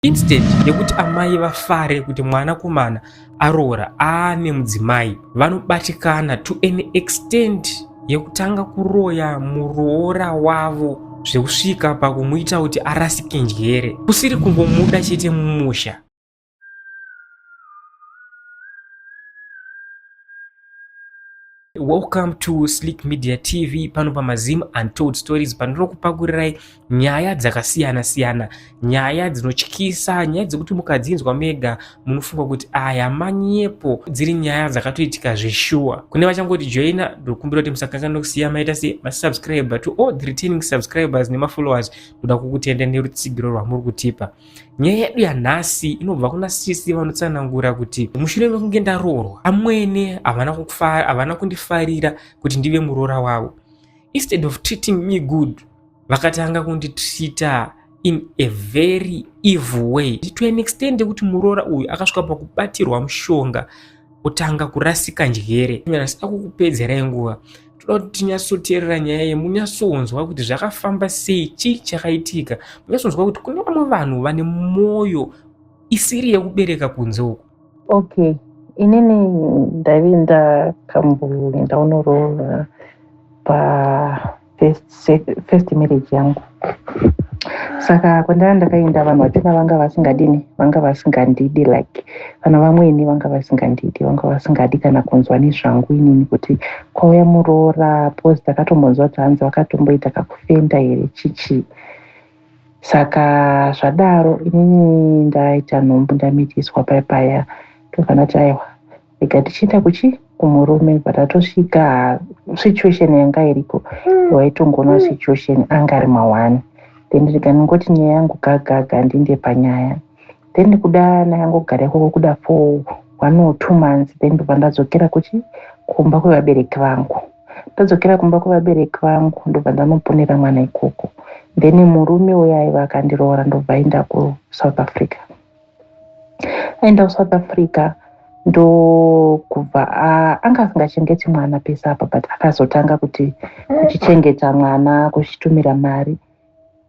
Instead yekuti amai vafare kuti mwana kumana aroora aane mudzimai, vanobatikana to an extent yekutanga kuroya muroora wavo zvekusvika pakumuita kuti arasike njere kusiri kungomuda chete mumusha Welcome to Slick Media TV pano pamazim untold stories pandinokupakulirai nyaya dzakasiyana siyana nyaya dzinotyisa nyaya dzekuti mukadzinzwa mega munofunga kuti aya manyepo dziri nyaya dzakatoitika zveshuwa kune vachangoti joina ndokumbira kuti musakanganwa kusiya maita se masubscriber to all the returning subscribers nemafollowers ndoda kukutenda nerutsigiro rwamuri kutipa Nyaya yedu yanhasi inobva kuna sisi vanotsanangura kuti mushure mekunge ndaroorwa amwene havana kundifarira kuti ndive muroora wavo. Instead of treating me good, vakatanga kunditreata in a very evil way to an extent yekuti muroora uyu akasvika pakubatirwa mushonga kutanga kurasika njere asida kukupedzerai nguva toda kuti tinyatsoteerera nyaya iyi munyatsonzwa kuti zvakafamba sei chii chakaitika munyatsonzwa kuti kune vamwe vanhu vane mwoyo isiri yekubereka kunze uku okay inini ndaive ndakamboenda unorova pa first marriage yangu saka kwandanga ndakaenda vanhu vachona vanga vasingadini vanga vasingandidi like kana vamweni vanga vasingandidi vanga vasingadi kana kunzwa nezvangu inini kuti kwauya muroora bcause ndakatombonzwa kuti hanzi vakatomboita kakufenda here chichi saka zvadaro inini ndaita nhombo ndamitiswa paya paya tokana taiwa ega tichienda kuchi kumurume but atosvika situation yanga iriko mm. waitongoona mm. situation anga ari mawani then ndikanongoti nyaya yangu gagaga handinde panyaya then ndikuda nayangogara ikoko kuda for one or two months then ndobva ndadzokera kuchi kumba kwevabereki vangu ndadzokera kumba kwevabereki vangu ndobva ndanoponera mwana ikoko then murume uye aiva akandiroora ndobva aenda kusouth africa aenda kusouth africa ndokubva anga asingachengeti mwana pese apa but akazotanga kuti kuchichengeta mwana kuchitumira mari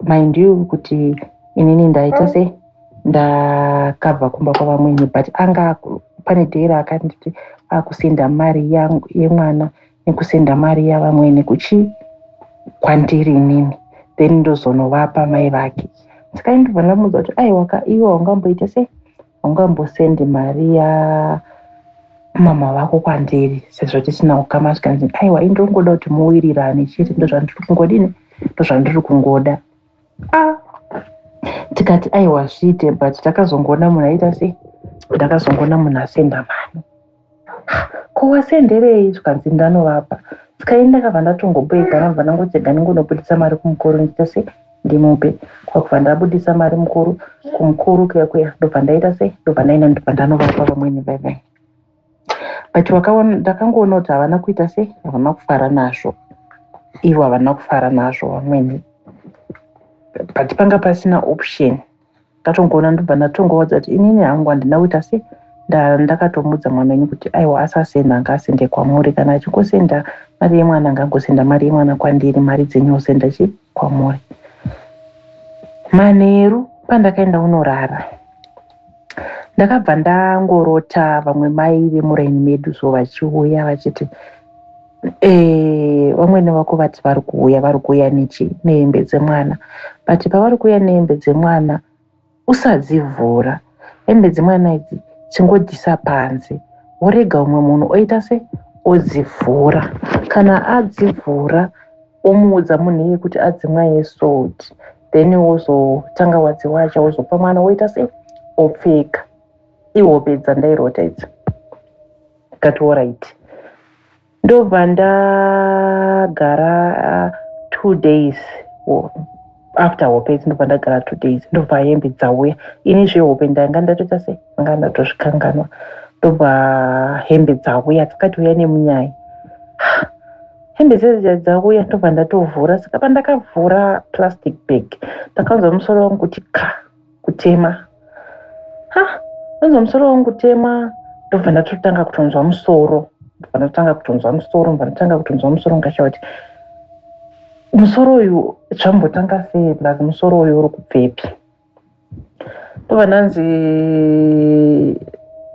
mind you kuti inini ndaita se ndakabva kumba kwavamwene but anga pane dhera akanditi akusinda mari yemwana nekusenda mari yavamwene kuchii kwandiri inini then ndozonovapa mai vake saka ndibva ndamuudza kuti aiwaka iwe haungamboita sei haungambosendi mari ya mama vako kwandiri sezvo tisina ukama zvikanzi aiwa indongoda kuti muwirirane chete ndozvandiri kungodini ndozvandiri kungoda ah. tikati aiwa zviite but takazongoona munhu aita sei ndakazongoona munhu asenda mhani ko wasenderei zvikanzi ndanovapa sikai ndakabva ndatongoboeka nabva ndangotsega ndingonobudisa mari kumukuru ndiita sei ndimupe kwakubva ndabudisa mari mukuru kumukuru kuya kuya ndobva ndaita sei ndobva ndaenda ndobva ndanovapa vamweni vevene but vakaona ndakangoona kuti havana kuita sei havana kufara nazvo ivo havana kufara nazvo vamweni but panga pasina option ndatongoona ndobva ndatongoudza kuti inini hangu handina kuita sei ndakatomudza mwana wenyu kuti aiwa asasenda anga asende kwamuri kana achingosenda mari yemwana anga angosenda mari yemwana kwandiri mari dzenyu osenda chi kwamuri manheru pandakaenda unorara ndakabva ndangorota vamwe mai vemuraini medu so vachiuya vachiti eh, vamwene vako vati vari kuuya vari kuuya nechi nehembe dzemwana but pavari kuuya nehembe dzemwana usadzivhura hembe dzemwana idzi chingodhisa panze worega umwe munhu oita se odzivhura kana adzivhura womuudza munhu iye kuti adzimwa yesod then wozotanga wadziwacha wozopa mwana woita sei opfeka ihope dzandairota idzi ndikati orit ndobva ndagara uh, two days after hope idzi ndobva ndagara two days ndobva hembe dzauya ini zvehope ndanga ndatoita sei anga ndatozvikanganwa ndobva hembe dzauya dzakati uya nemunyaya hembe dzedza dzauya ndobva ndatovhura saka pandakavhura plastic bag ndakanzwa musoro wangu kuti ka kutema ha anzwa musoro wangu kutema ndobva ndatotanga kutonzwa musoro ndobva ndatotanga kutonzwa musoro ndobva ndatanga kutonzwa musoro ndikashaa kuti musoro uyu zvambotanga sei plus musoro uyu uri kubvepi ndovananzi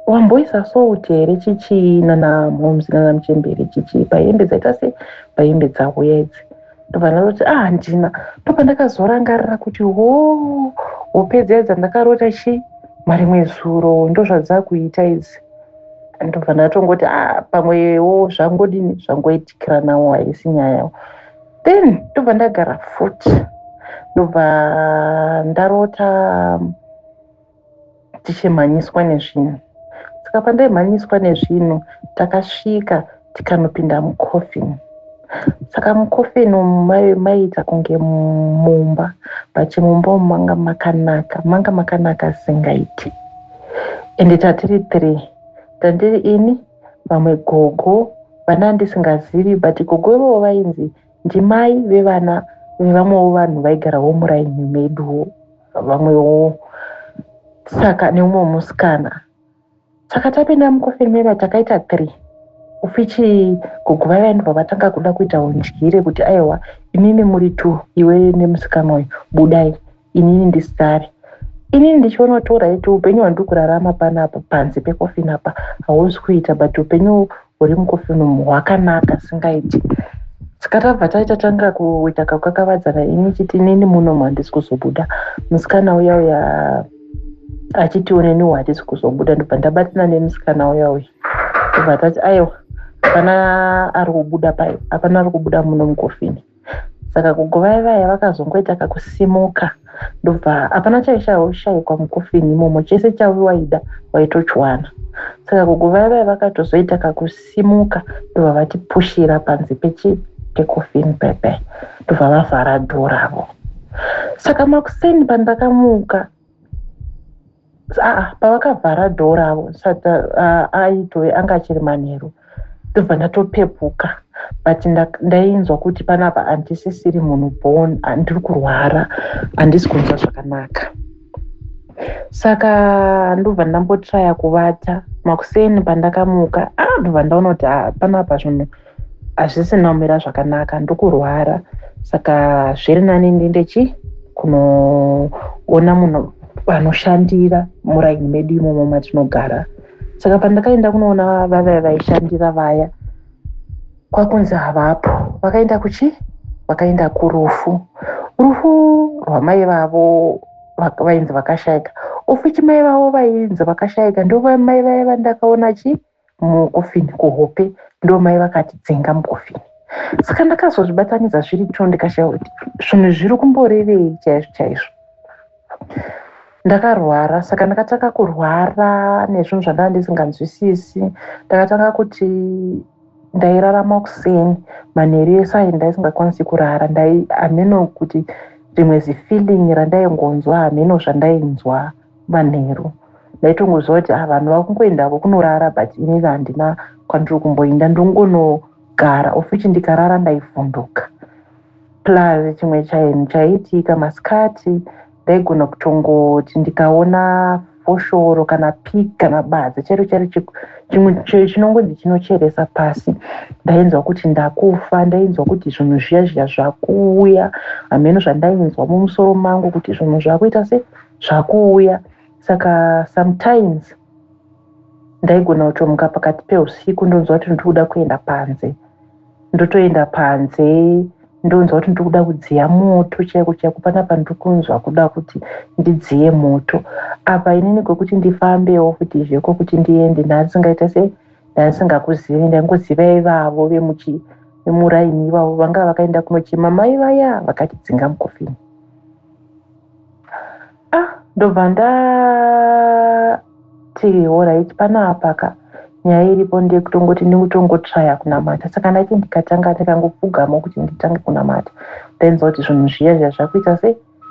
wamboisa salt here chichii nana moms nana muchembere chichii pahembe dzaita se pahembe dzauya idzi ndovanazoti ah handina papa ndakazorangarira kuti ho hope dziya dzandakarota chii marimwe zuro ndozvadzakuita idzi ndobva ndatongoti ah pamwewo zvangodini zvangoitikira nawo haisi nyaya then ndobva ndagara futi ndobva ndarota tichimhanyiswa nezvinhu saka pandaimhanyiswa nezvinhu takasvika tikanopinda mucoffin saka mucoffin umu maiita kunge mumba but mumba umu manga makanaka manga makanaka singaiti ende tatiri three tandiri ini vamwe gogo vana ndisingazivi but gogo ivovo vainzi ndimai vevana vevamwewo vanhu vaigarawo muraini meduwo vamwewo saka neumwe musikana saka tapinda mukofeni meva takaita three ufichi gogo vaiva ndibva vatanga kuda kuita undyire kuti aiwa inini muri two iwe nemusikana uyu budai inini ndisare inini ndichiona kuti oraiti upenyu hwandiri kurarama panapo panze pekofini apa hausi kuita but upenyu huri mukofini umu hwakanaka singaiti saka tabva taita tanga kuita kakakavadzana ini chiti inini muno mandisi kuzobuda musikana uya uya achiti oneni watisi kuzobuda ndobva ndabatina nemusikana uya uya ndobva tati aiwa hapana ari kubuda pai hapana ari kubuda muno mukofini saka gogo vaye vaya vakazongoita kakusimuka ndobva hapana chaishaushaikwa mukofini imomo chese chaiwaida waitochiwana saka gogo vaye vaye vakatozoita kakusimuka ndobva vatipushira panze pechi pekofini pepe ndobva vavhara dhoravo saka makuseni pandakamuka Ah, pavakavhara dhoo ravo saka ah, aitove anga achiri manheru ndobva ndatopepuka but ndainzwa kuti panapa handisisiri munhu bon ah, ndiri kurwara handisi kunzwa zvakanaka saka ndobva ndambotraya kuvata makuseni pandakamuka ah ndobva ndaona kuti panapa zvinhu hazvisina kumira zvakanaka ndokurwara saka zviri nani ndiende chi kunoona munhu vanoshandira muraini medu imomo matinogara saka pandakaenda kunoona vavaya vaishandira vaya kwakunzi havapo vakaenda kuchi vakaenda kurufu rufu rwamai vavo vainzi vakashaika ofichi mai vavo vainzi vakashaika ndovamai vaya vandakaona chii mukofini kuhope ndomai vakati dzenga mukofini saka ndakazozvibatanidza zviri two ndikashaya kuti zvinhu zviri kumborevei chaizvo chaizvo ndakarwara saka ndakatanga kurwara nezvinhu zvandava ndisinganzwisisi ndakatanga kuti ndairarama kuseni manheru ese ayi ndaisingakwanisi kurara ndai hameno kuti rimwe zifeeling randaingonzwa hameno zvandainzwa manheru ndaitongoziva kuti ah, vanhu vakungoendako kunorara but ini handina kwandiri kumboinda ndongonogara of which ndikarara ndaivhunduka plus chimwe chainhu chaiitika masikati ndaigona kutongoti ndikaona foshoro kana pik kana badza chairo chairo chimwe chinongonzi chinocheresa pasi ndainzwa kuti ndakufa ndainzwa kuti zvinhu zviya zviya zvakuuya hameno zvandainzwa mumusoro mangu kuti zvinhu zvakuita sei zvakuuya saka sometimes ndaigona kutomuka pakati peusiku ndonzwa kuti ndiri kuda kuenda panze ndotoenda panze ndonzwa kuti ndiri kuda kudziya moto chaiko chaiko panapa ndiri kunzwa kuda kuti ndidziye moto apa inini kwekuti ndifambewo kuti zveko kuti ndiende ndaisingaita se ndaisingakuzivi ndaingoziva ivavo vemuchi vemuraini ivavo vanga vakaenda kunochema mai vaya vakatidzinga mukofini ah ndobva ndati horit pana apaka nyaya iripo ndekutongoti ndikutongotraya kunamata saka ndaiti ndikatanga ndikangopfugama kuti nditange kunamata ndainzwa kuti zvinhu zviya zviya zvakuita se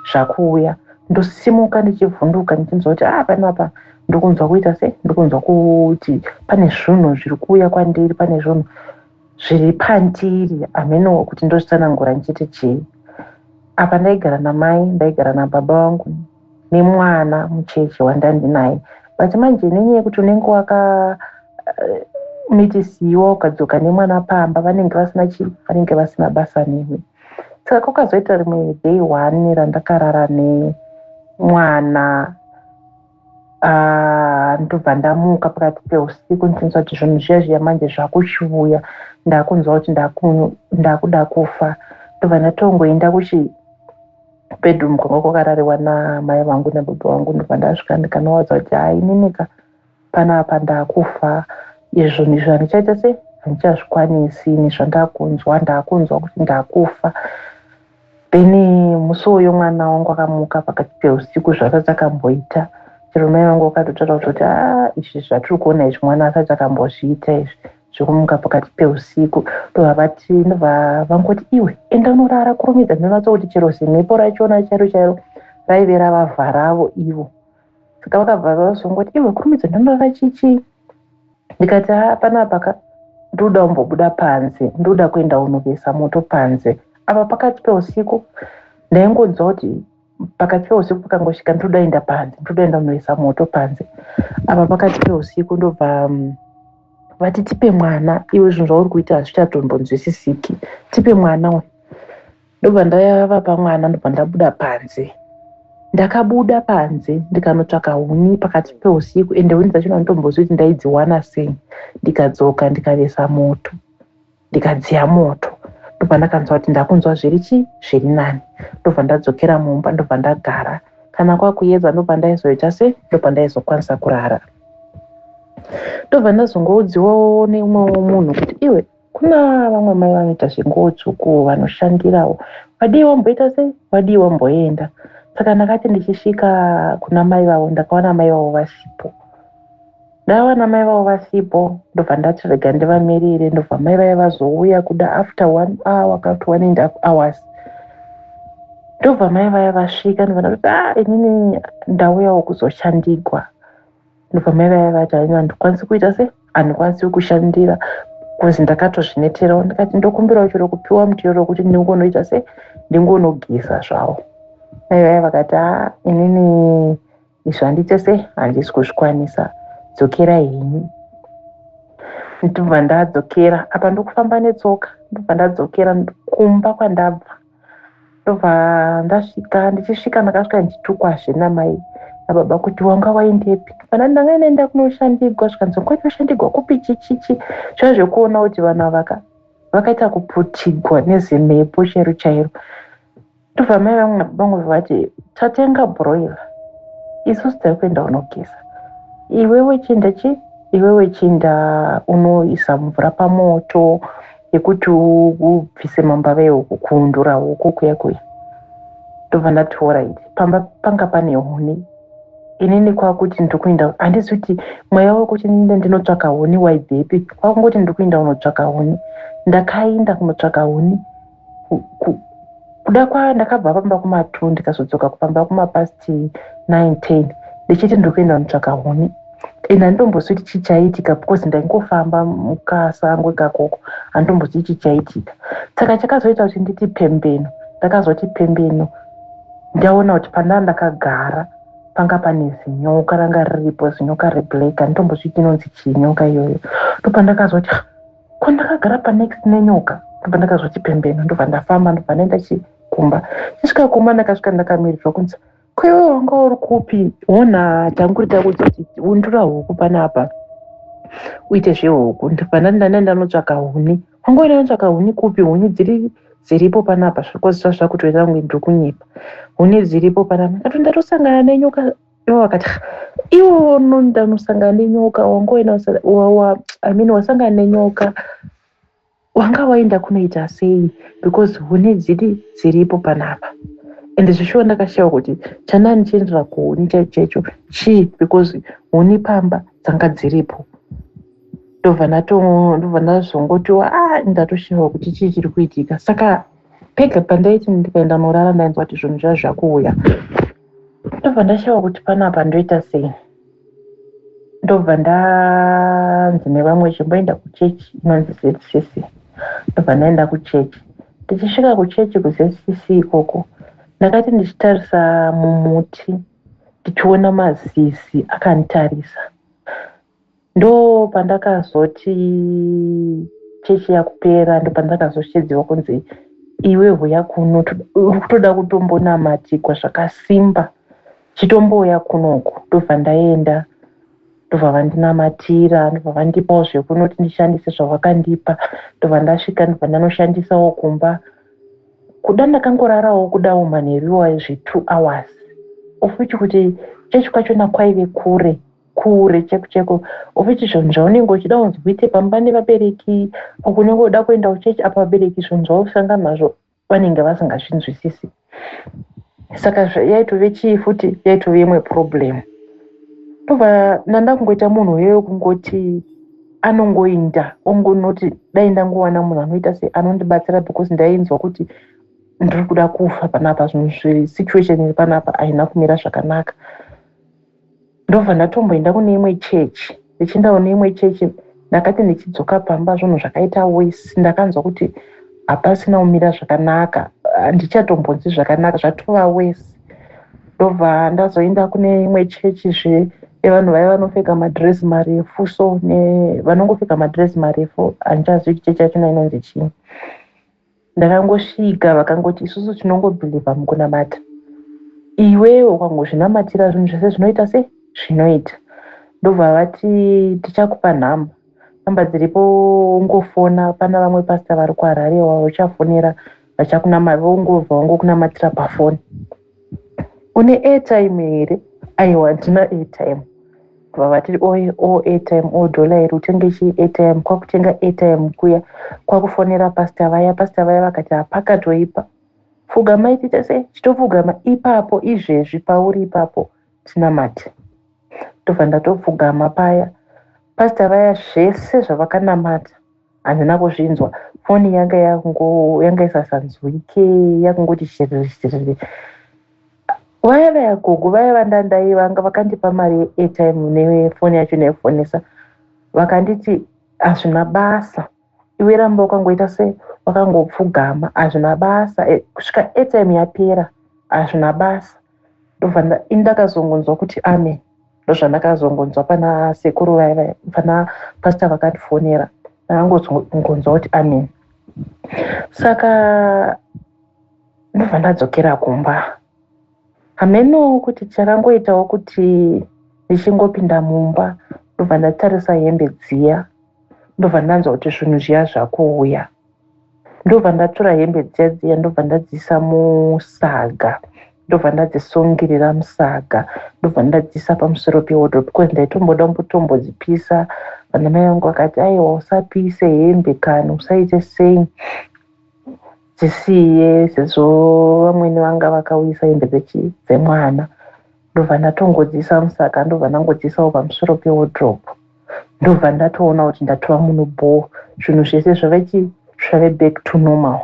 zvakuuya ndosimuka ndichivhunduka ndichinzwa kuti ah panapa ndokunzwa kuita se ndokunzwa kuti pane zvunhu zviri kuuya kwandiri pane zvunhu zviri pandiri hameno kuti ndozvitsanangura ndichiti chii apa ndaigara namai ndaigara nababa vangu nemwana mucheche wandandinaye but manje nenyaya yekuti unenge waka eh, mitisiwa ukadzoka nemwana pamba vanenge vasina chii vanenge vasina basa newe saka kwakazoita rimwe day one randakarara nemwana Ah, ndobva ndamuka pakati peusiku ndichinzwa kuti zvinhu zviya zviya manje zvakuchiuya ndakunzwa kuti ndakuda kufa ndobva ndatongoenda kuchi bedroom kwanga kwakarariwa namai vangu nababa vangu ndobva ndasvika ndikanowadza kuti haininika panapa ndakufa izvo ndizvo handichaita se handichazvikwanisi ini zvandakunzwa ndakunzwa kuti ndakufa Beni, musi uyo mwana wangu akamuka pakati peusiku zvaasati akamboita chero mai vangu vakatotaura kuti ah, izvi zvatiri kuona izvi mwana asati akambozviita izvi zvekumuka pakati peusiku ndovavati vangoti iwe enda unorara kurumidza ndinonatsa kuti chero zimhepo rachona chairo chairo raive ravavharavo ivo saka vakabva vazongoti iwe kurumidza ndinonorara chichii ndikati haa panapa ka ndoda kumbobuda panze ndoda kuenda kunovesa moto panze apa pakati peusiku ndaingonzwa kuti pakati peusiku pakangosvika ndoda enda panze ndoda enda kunovesa moto panze apa pakati peusiku ndobva mm, vati tipe mwana iwe zvinhu zvauri kuita hazvichatombonzwisisiki tipe mwana we ndobva ndayava pamwana ndobva ndabuda panze ndakabuda panze ndikanotsvaka huni pakati peusiku ende huni dzachona nditombozvi kuti ndaidziwana sei ndikadzoka ndikavesa moto ndikadziya moto ndobva ndakanzwa kuti ndakunzwa zviri chi zviri nani ndobva ndadzokera mumba ndobva ndagara kana kwakuyedza ndobva ndaizoita se ndobva ndaizokwanisa kurara ndobva ndazongoudziwawo neumwewo munhu kuti iwe Kuna vamwe mai vanoita zvenguwo tsvuku vanoshandirawo. Wadii wamboita sei? Wadii wamboenda? Saka ndakati ndichisvika kuna mai vavo ndakawana mai vavo vasipo. Ndawana mai vavo vasipo ndobva ndati rega ndivamirire ndobva mai vaya vazouya kuda after one hour kana kuti one and half hours ndobva mai vaya vasvika ndobva ndati ah inini ndauyawo kuzoshandigwa ndopamai vaya vati haina handikwanisi kuita se handikwanisi kushandira bcause ndakatozvineterawo ndikati ndokumbirawo chero kupiwa mutero wekuti ndingonoita se ndingonogeza zvawo mai vaya vakati a ah, inini izvi handiite se handisi kuzvikwanisa dzokera henyu ndobva ndadzokera apa ndokufamba netsoka ndobva ndadzokera kumba kwandabva ndobva ndasvika ndichisvika ndakasvika ndichitukwazve namai nababa kuti wanga waendepi kana ndanga ndaenda kunoshandigwa zvikanzi wanga uchinoshandigwa kupi chichichi zviya zvekuona kuti vanhu avaka vakaita kuputigwa nezimhepo chairo chairo ndobva mai vangu nababa vangu vati tatenga broiler isusu tari kuenda unogeza iwewe chienda chi iwewe chienda unoisa mvura pamoto yekuti ubvise mambava ehuku kuundura huku kuya kuya ndobva ndati orit pamba panga pane huni inini kwakuti ndiri kuenda handisi kuti mweya wekuti ninde ndinotsvaka huni waibvepi kwakungoti ndiri kuenda kunotsvaka huni ndakaenda kunotsvaka huni kuda kwayo ndakabva pamba kumatwo ndikazodzoka kupamba kumapasi 9:10 ndichiti ndiri kuenda kunotsvaka huni and handitombozivi kuti chii chaiitika because ndaingofamba mukasango ikakoko handitombozivi chii chaiitika saka chakazoita kuti nditi pembeno ndakazoti pembeno ndaona kuti pandaa ndakagara panga pane zinyoka ranga riripo zinyoka reblack handitombozvii chinonzi chii nyoka iyoyo ndopandakazoti kwandakagara panext nenyoka ndobva ndakazwa chipembeno ndobva ndafamba ndobva ndaenda chikumba chisvika kumba ndakasvika ndakamirirwa kunzi kwewe wanga uri kupi wona tanguri takudza kuti undura huku panapa uite zvehuku ndobva ndandanda ndanotsvaka huni wanga uine anotsvaka huni kupi huni dziri dziripo panapa zviri kuziva zvakutoita kunge ndiri kunyepa huni dziripo panapa ndatoenda tosangana nenyoka ivo vakati iwo unonda unosangana nenyoka wangoenda i mean wasangana nenyoka wanga waenda kunoita sei because huni dziri dziripo panapa and zvishuwa ndakashaiwa kuti chanani chiendera kuhuni chaicho chaicho chii because huni pamba dzanga dziripo ndobva ndobva ndazongotiwa a ah, ndatoshawa kuti chii chiri kuitika saka pega pandaiti ndikaenda norara ndainzwa kuti zvinhu zvazvakuuya ndobva ndashaiwa kuti panapa ndoita sei ndobva ndanzi nevamwe chimboenda kuchechi inonzi zcc ndobva ndaenda kuchechi ndichisvika kuchechi kuzcc ikoko ndakati ndichitarisa mumuti ndichiona mazizi akanditarisa ndo pandakazoti chechi yakupera ndo pandakazoshedziwa kunzi iwe huya kuno kutoda kutombonamatikwa zvakasimba chitombouya kunoku ndobva ndaenda ndobva vandinamatira ndobva vandipawo zvekunoti ndishandise zvavakandipa ndobva ndasvika ndobva ndanoshandisawo kumba kuda ndakangorarawo kudawo manheru iwayo zve two hours of which kuti chechi kwachona kwaive kure kure cheko cheko of which zvinhu zvaunenge uchida kunzi uite pamba nevabereki or kunenge uda kuenda kuchechi apa vabereki zvinhu zvaukusanga nazvo vanenge vasingazvinzwisisi saka yaitove chii futi yaitove imwe problem ndobva ndanda kungoita munhu uye wekungoti anongoinda ongonoti dai ndangowana munhu anoita se anondibatsira because ndainzwa kuti ndiri kuda kufa panapa zvinhu zvesituation iri panapa haina kumira zvakanaka ndobva ndatomboenda kune imwe chechi ndichienda kune imwe chechi ndakati ndichidzoka pamba zvinhu zvakaita wese ndakanzwa kuti hapasina kumira zvakanaka handichatombonzi zvakanaka zvatova wese ndobva ndazoenda kune imwe chechi zve evanhu vaya vanopfeka madress marefu so vanongopfeka madress marefu handichazivi kuti chechi yacho nainonzi chii ndakangosvika vakangoti isusu tinongobhilivha mukunamata iwewe ukangozvinamatira zvinhu zvese zvinoita sei zvinoita ndobva vati tichakupa nhamba nhamba dziripo ungofona pana vamwe pasta vari kuharare vachafonera vachakunama vongobva vangokunamatira pafoni une airtime here aiwa handina airtime vavatiri o oh, airtime o oh, dollar here utenge chii airtime kwakutenga airtime kuya kwakufonera pasta vaya pasta vaya vakati hapakatoipa pfugama itiita sei chitopfugama ipapo izvezvi pauri ipapo tinamati ndobva ndatopfugama paya pasta vaya zvese zvavakanamata handina kuzvinzwa foni yanga yanga isasanzwike yakungoti shiriri vaya vaya gogo vaya vandandai vanga vakandipa mari yeairtime nefoni yacho naifonesa vakanditi hazvina basa iwe ramba wakangoita se wakangopfugama hazvina basa eh, kusvika airtime yapera hazvina basa ndobva indakazongonzwa kuti ame ndozvandakazongonzwa pana sekuru vaiva pana pasta vakandifonera ndakangonzwa kuti ame saka ndobva ndadzokera kumba hameno kuti chakangoitawo kuti ndichingopinda mumba ndobva ndatarisa hembe dziya ndobva ndanzwa kuti zvinhu zviya zvakuuya ndobva ndatora hembe dziya dziya ndobva ndadziisa musaga ndobva ndadzisungirira musaga ndobva ndadziisa pamusoro pewodo because ndaitomboda kumbotombozipisa vana mai vangu vakati aiwa usapise hembe kana usaite sei dzisiye sezvo vamwene vanga vakauyisa hembe dzemwana ndobva ndatongodziisa musaga ndobva ndangodziisawo pamusoro pewodrobe ndobva ndatoona kuti ndatova muno bhoo zvinhu zvese zvave chi zvave back to normal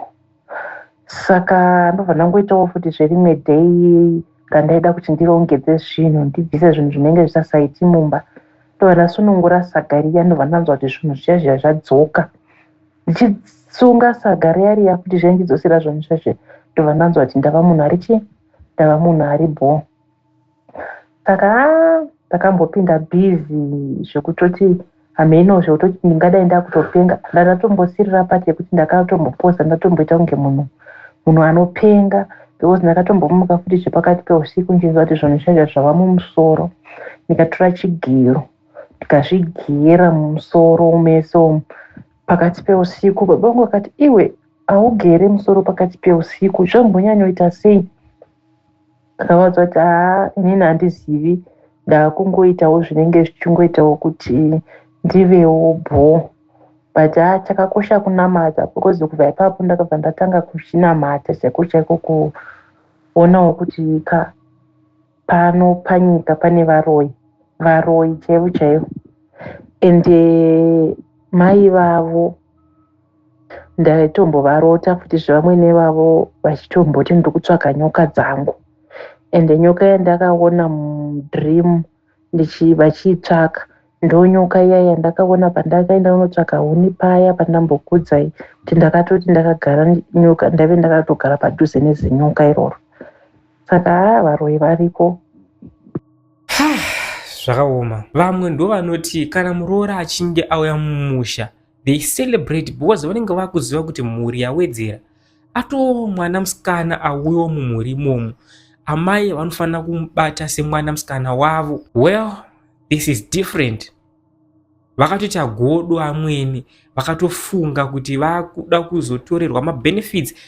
saka ndobva ndangoitawo futi zverimwe day randaida kuti ndirongedze zvinhu ndibvise zvinhu zvinenge zvisasaiti mumba ndobva ndasunungura saga riya ndobva ndanzwa kuti zvinhu zviya zviya zvadzoka ndichisunga saga riya riya futi zviya ndichidzosera zvinhu zviya zviya ndobva ndanzwa kuti ndava munhu ari chii ndava munhu ari bhoo saka ndakambopinda busy zvekutoti hameno zvekutoti ndingadai ndakutopenga ndakatombosirira pati yekuti ndakatombopoza ndatomboita kunge munhu munhu anopenga because ndakatombomuka futi zvepakati peusiku ndichinzwa kuti zvinhu zvacho zvava mumusoro ndikatora chigero ndikazvigera mumusoro mese umu pakati peusiku baba vangu vakati iwe haugere musoro pakati peusiku zvambonyanyoita sei ndakavaudza kuti haa inini handizivi ndakungoitawo zvinenge zvichingoitawo kuti ndivewo bho but haa chakakosha kunamata because kubva ipapo ndakabva ndatanga kuchinamata chaiko chaiko kuonawo kuti ka pano panyika pane varoyi varoyi chaivo chaivo and eh, mai vavo ndaitombovarota futi zvevamwene vavo vachitomboti ndiri kutsvaka nyoka dzangu ende nyoka yandakaona mudream vachiitsvaka ndonyoka iya yandakaona pandakaenda kunotsvaka huni paya pandambokudzai kuti ndakatoti ndakagara nyoka ndaive ndakatogara padhuze nezinyoka iroro saka haa ah, varoyi variko zvakaoma vamwe ndovanoti kana muroora achinge auya mumusha they celebrate because vanenge vakuziva kuti mhuri yawedzera atoo mwana musikana auyo mumhuri imomo amai vanofanira kumubata semwana musikana wavo well this is different vakatoita godo amweni vakatofunga kuti vakuda kuzotorerwa mabenefits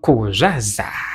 Ko zvazara.